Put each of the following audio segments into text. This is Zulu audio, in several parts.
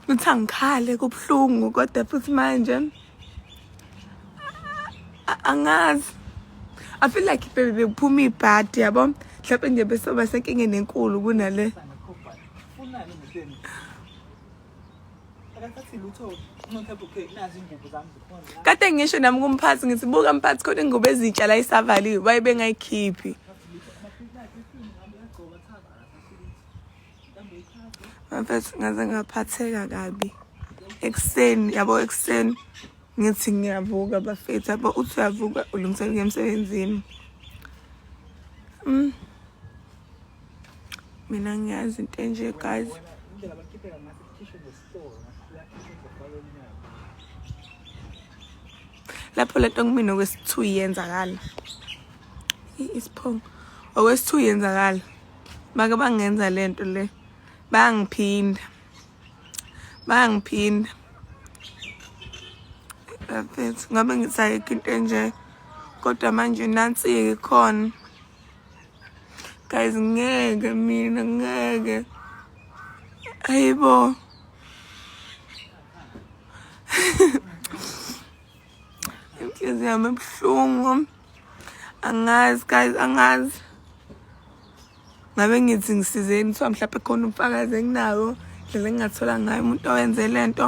ukuthi angikhale kubuhlungu kodwa futhi manje angazi i feel like bebe bekuphuma ibhadi yabo mhlawumbe nje besoba senkingeni enkulu kunale kade ngisho nami kumphathi ngithi buka mphathi khona ingubo ezintsha la isavaliwe waye bengayikhiphi mfethu ngaze ngaphatheka kabi ekuseni yabo ekuseni ngithi ngiyavuka bafethu yabo uthi uyavuka ulungiselela emsebenzini mm. mina ngiyazi into enje guys lapho lento kumina okwesithu yenzakala isiphongo okwesithu yenzakala bake bangenza lento le bangiphinda bangiphinda ngabe ngisayikho into enje kodwa manje nansi-ke khona guys ngeke mina ngeke ayibo inhliziyo yami ebuhlungu angazi guys angazi ngabe ngithi ngisizeni kuthiwa mhlawumbe khona ubufakazi enginawo ndlela engingathola ngayo umuntu owenze le nto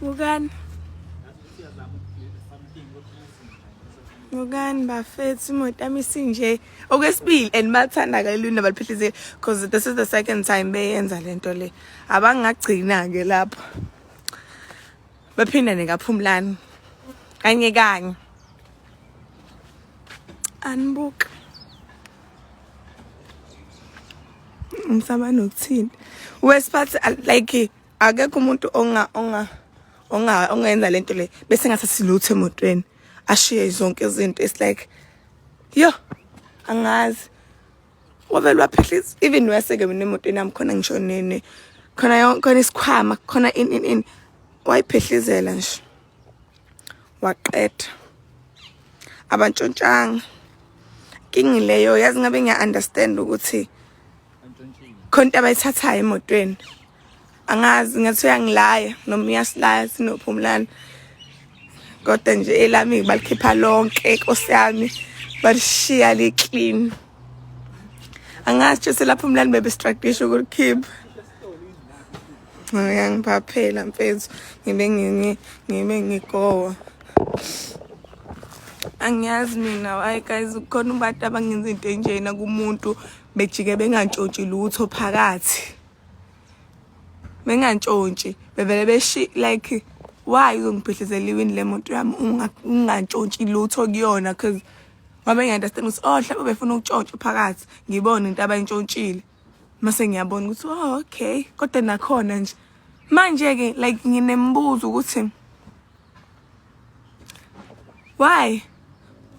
Bukani. Bukani bafethu imoto yami isinje okwesibili and bathanda kalulu nabaliphihlizile because this is the second time beyenza lento le. Abangagcina ke lapho. Baphindane kaphumlani. Kanye kanye. Anbuka. Ngisaba nokuthini. Wesiphathi like akekho umuntu onga onga onga ongenza lento le bese ngase siluthe emotweni ashiye zonke izinto it's like yo angazi wavele waphehlisa even weseke mina emotweni yami khona ngisho nini khona yonke khona isikhwama khona in in in wayiphehlizela nje waqeda abantshontshanga kingi leyo yazi ngabe ngiya understand ukuthi khona abayithathayo emotweni angazi ngathi uyangilaya noma uyasilaya sinophumlana kodwa nje elami balikhipha lonke inkosi yami balishiya liclean angazi nje selapho umlani bebe strategish ukulikhipha uyangiphaphela mfethu ngibe nginye ngibe ngigowa angiyazi mina hayi guys kukhona abantu abangenza into enjena kumuntu bejike bengantshotshi lutho phakathi bengantshontshi bevele beshi like why uzongibhidlizela iwini le moto yami ungantshontshi lutho kuyona because ngoba ngiya-understand ukuthi oh mhlawumbe befuna ukutshontshwa phakathi ngibone into abayintshontshile mase ngiyabona ukuthi oh okay kodwa nakhona nje manje-ke like nginemibuzo ukuthi why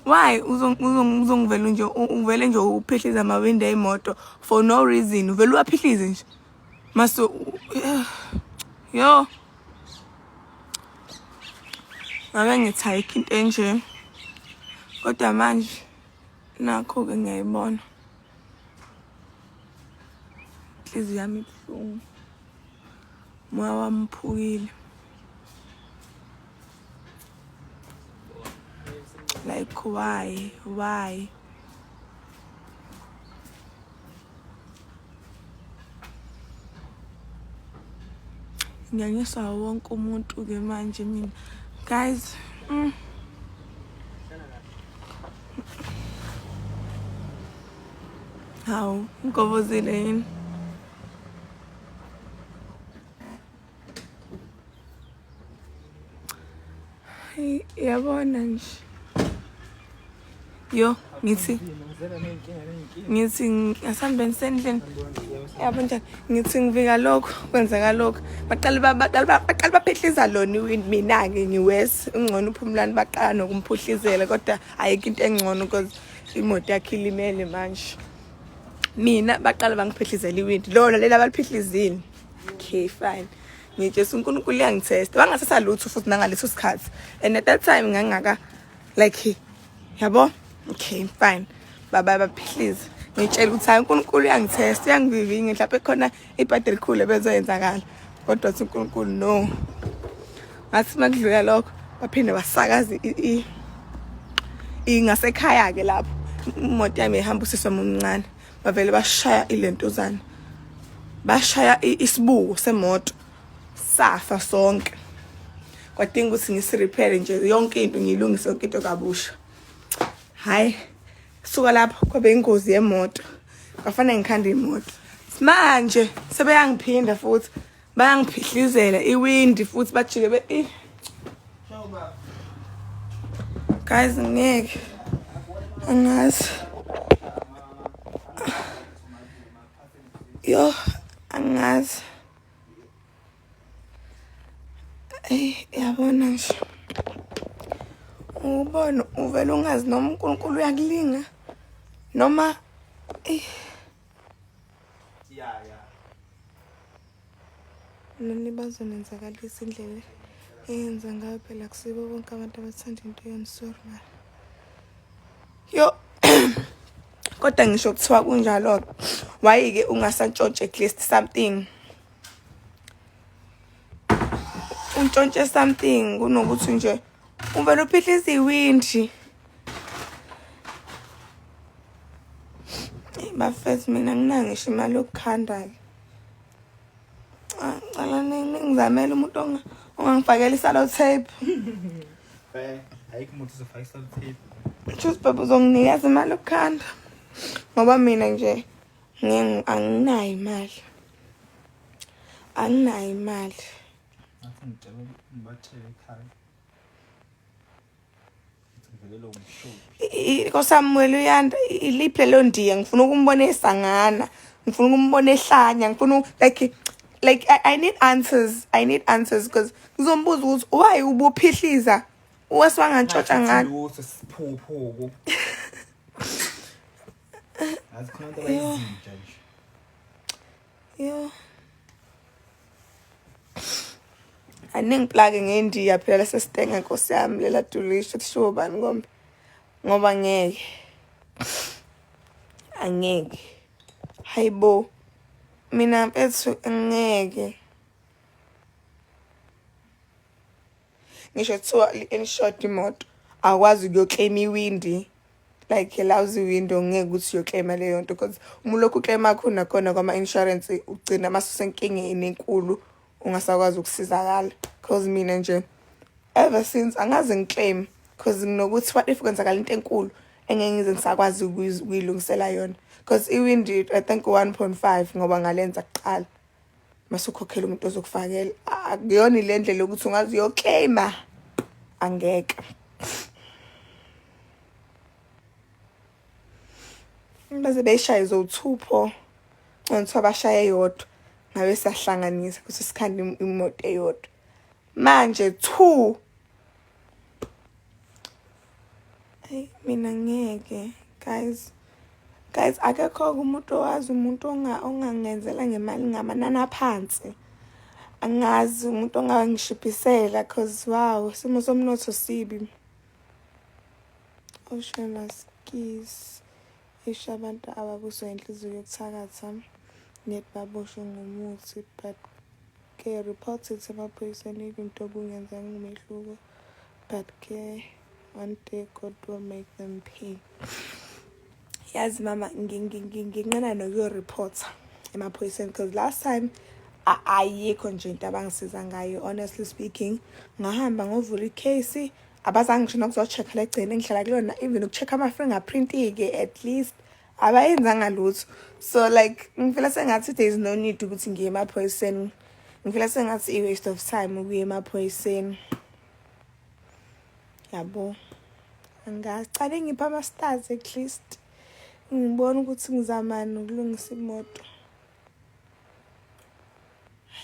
why uzongivela nje uvele nje uphihliza amawindi ey'moto for no reason uvele uwaphihlize nje mase yo ngabe ngithayikho into enje kodwa manje nakho-ke ngiyayibona inhliziyo yami ibuhlungu moya wami uphukile like why why nganyiswa wonke umuntu-ke manje mina guys mm. hawu ngigobozile yini yabona nje yo ngithi ngithi asambe ngisendlini yabo njani ngithi ngivika lokho kwenzeka lokho baqale baqale baqale baphihliza lona iwindi mina-ke ngiwes ungcono uphumulani baqala nokumphuhlizela kodwa ayikho into engcono because imoto yakhe ilimele manje mina baqala bangiphihlizela iwindi lona leli abaliphihlizile okay fine ngijesa unkulunkulu uyangithesta wangathatha lutho futhi nangaleso sikhathi and at that time ngangaka like yabo okay fine baba baphilize ngitshela ukuthi hayi unkulunkulu uyangithesta uyangivivinga mhlawumbe khona ibhadi elikhulu ebezoyenzakala kodwa uthi unkulunkulu no ngathi uma kudlula lokho baphinde basakaza ingasekhaya-ke lapho imoto yami ihamba usiswa mumncane bavele bashaya ilentuzana bashaya isibuko semoto safa sonke kwadinga ukuthi ngisirephere nje yonke into ngiyilungise yonke into kabusha hhayi suka lapho kwabe ingozi yemoto kwafanele ngikhande imoto manje sebeyangiphinda futhi bayangiphihlizela iwindi futhi bajike be eh. guys ngeke angazi yo angazi eyi yabona nje ubona uvele ungazi noma unkulunkulu uyakulinga noma eyi ya ya nani bazonenzakalisa indlela eyenza ngayo phela kusibo bonke abantu abathanda into yenu sorry mara yo kodwa ngisho kuthiwa kunjalo-ke wayike ungasantshontshe at least something untshontshe something kunokuthi nje uvele uphihlisa iwindi bafethu mina nginangisho imali yokukhandala ah, cala ningizamele umuntu ongangifakela isalo tape eh, ayikho umuntu uzofaka isalo tape Choose baba uzonginikeza imali yokukhanda ngoba mina nje anginayo imali anginayo imali Ngathi ngicela ngibatshele ekhaya. Ngivelelwe umshophi. kosamuweli uyanda iliphi lelo ndiya ngifuna ukumbona esangana ngifuna ukumbona ehlanya ngifuna u- like like I, i need answers i need answers because ngizombuza ukuthi why ubuphihliza wesiwangantshotsha ngani Lutho siphuphuku. Ngathi khona into abayizinja nje. Yo. Aningiplake ngendiya phela sesitenge nkosi yami lela dulisho kushiwo bani kombe ngoba ngeke angeke hayibo mina mfethu ngeke ngisho kuthiwa li-insured imoto akwazi ukuyokleyima iwindi like lousy window ngeke ukuthi uyokleyima leyo nto because uma ulokhu ukleyima khona khona kwama-insurance ugcina masusenkingeni enkulu ungasakwazi ukusizakala cause mina nje ever since angaze ngikleyime cause nginokuthi what if kwenzakala into enkulu engeke ngize ngisakwazi ukuyilungisela yona because iwindi i think 1.5 ngoba ngalenza kuqala masukhokhela umuntu ozokufakela akuyona ile ndlela yokuthi ungazi uyoclaima angeke baze beyishaye zothupho nconso abashaye yodwa ngabe sahlanganisa kuthi sikhanda imoto eyodwa manje two Hey, mina ngeke guys guys akekho umuntu owazi umuntu ongangenzela ngemali ngamanani aphansi angazi umuntu ongangishiphisela cause wow isimo somnotho sibi oshemaskis isho abantu ababuswa inhliziyo yokuthakatha net baboshwe ngomuthi but Ke report it emaphoyiseni if into obungenzanga umehluko but ke one day God will make them pay. Yazi mama nginqena nokuyo report emaphoyiseni because last time ayikho nje into abangisiza ngayo honestly speaking ngahamba ngovula icase abazange ngisho nokuzocheck legcine ngihlala kulona even ukucheck ama fingerprint ke at least abayenzanga lutho so like ngifela sengathi there is no need ukuthi ngiye emaphoyiseni ngifela sengathi i-waste of time ukuya emaphoyiseni yabo ngingacale ngipha ama-stars at least ngibone ukuthi ngizamani ukulungisa imoto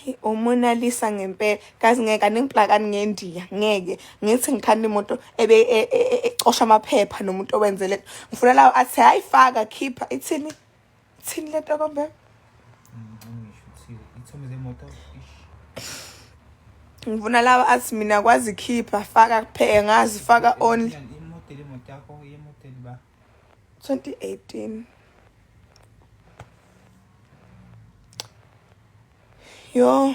Hey uMona Lisa ngempela kazi ngeke aningibhakani ngendiya ngeke ngithi ngikhanda imoto ebe e, e, e, ecosha amaphepha nomuntu owenzele ngifuna lawo athi hayi faka khipha ithini ithini lento kombe ngifuna lawo athi mina kwazi khipha faka kuphela ngazi faka only 2018 yo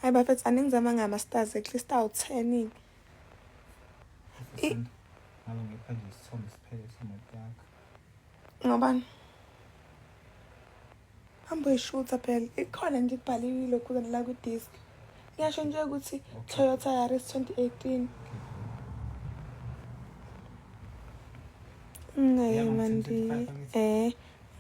hayi bafethu aningizama ngama-stars at least awu-ten ngobani hambe uyishutha phela ikhona nje kubhaliwe ilokhuzana la kwi-disk ngiyasho nje ukuthi toyota yaris 2018 ngaye mandi eh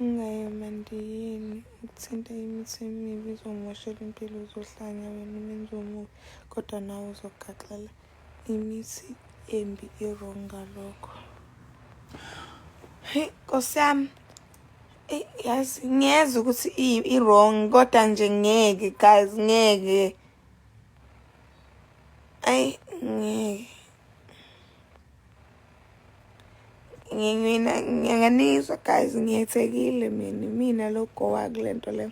ngaye mandi yini ukuthinta imithi emibi uzomoshela impilo uzohlanya wena umenzi omubi kodwa nawe uzogaxela imithi embi irong ngalokho heyi nkosi yami yazi ngiyeza ukuthi i-wrong kodwa nje ngeke guys ngeke ayi ngeke ngiyena ngiyanganizwa guys ngiyethekile mina mina logowa kule nto le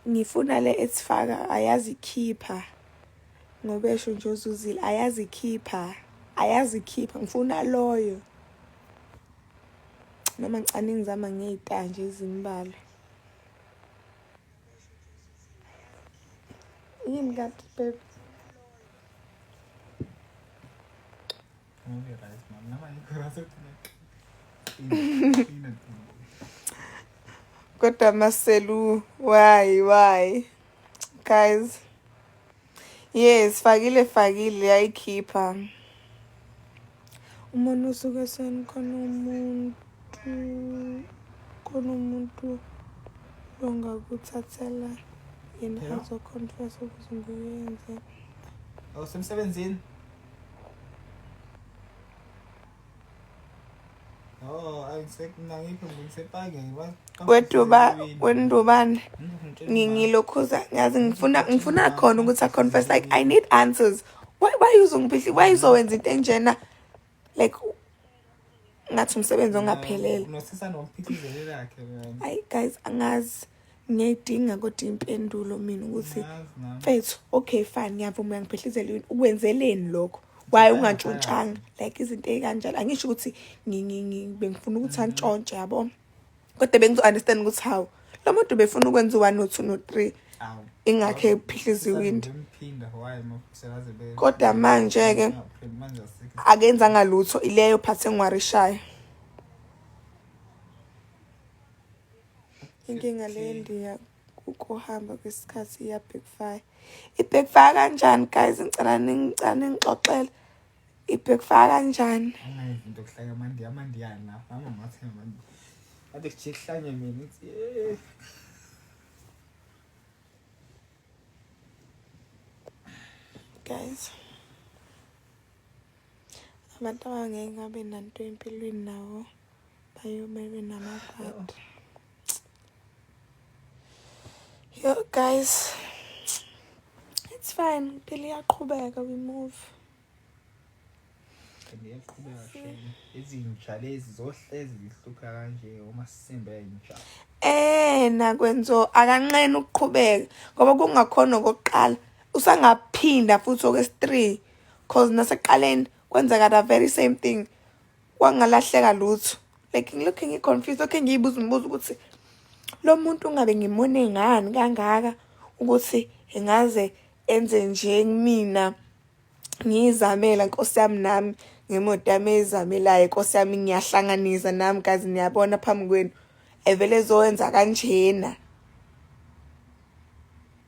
ngifuna le esifaka ayazikhipha ngobesho nje uzuzile ayazikhipha ayazikhipha ngifuna loyo noma ngicane ngizama ngey'tanje ezimbalwa yini kanti babe kodwa maselu why why guys Yes, fakile fakile yayikhipha. Umuntu usuke senikhona umuntu khona umuntu longakuthathela yena yeah. azoconfess ukuthi ngiyenze. Awusemsebenzini? Oh, Oh, I expect nangiphi ngisepake ngiba. Weduba, wendubane. Ngingilokhuza ngazi ngifuna ngifuna khona ukuthi I confess like I need answers. Why why uzongiphihli? Why uzowenza into enjena? Like ngathi umsebenzi ongaphelele. Unosisa nomphithizeli lakhe. Hayi guys angazi. ngiyayidinga kodwa impendulo mina ukuthi mfethu okay fine ngiyavuma uyangiphehlizela yini ukwenzeleni lokho waye ungantshontshanga like izinto ey'kanjalo angisho ukuthi bengifuna ukuthi antshontshe yabo kodwa bengizo-understand ukuthi hawu lo muntu befuna ukwenza u-one no-two no-three ingakhe ephihlisa iwindi kodwa manje-ke akenzanga lutho ileyo phathi engwarishayo inkinga le ndiya ukuhamba kwesikhathi iyabackfire ibackfire kanjani guys ngicela ningicela ningixoxele ibackfire kanjani into kuhlanya manje amandiyani lapha amamathenga manje kade kujike kuhlanye mina guys abantu abangeke ngabe nanto empilweni nawo bayomele namabhadi yo guys it's fine impilo iyaqhubeka we move iyaqhubeka shame izinja lezi zohlezi zihlupha kanje uma sisimba inja eh nakwenzo akanqena ukuqhubeka ngoba kungakhona okokuqala usangaphinda futhi okwesi-3 cause naseqaleni kwenzeka the very same thing kwangalahleka lutho like ngilokhe ngi-confuse okhe ngiyibuza umbuzo ukuthi lo muntu ungabe ngimone ngani kangaka ukuthi engaze enze nje kumina ngiyizamela nkosi yami nami ngemoto yami eyizamelayo nkosi yami ngiyahlanganisa nami kazi niyabona phambi kwenu evele ezowenza kanjena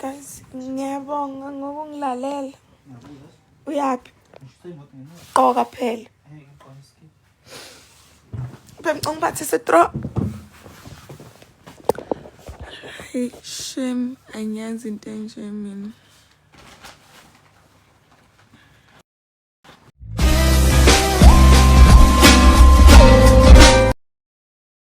guys ngiyabonga ngokungilalela uyaphi qoka phela bemcunga ubathi sitro Hey, shame, angiyazi into enje mina.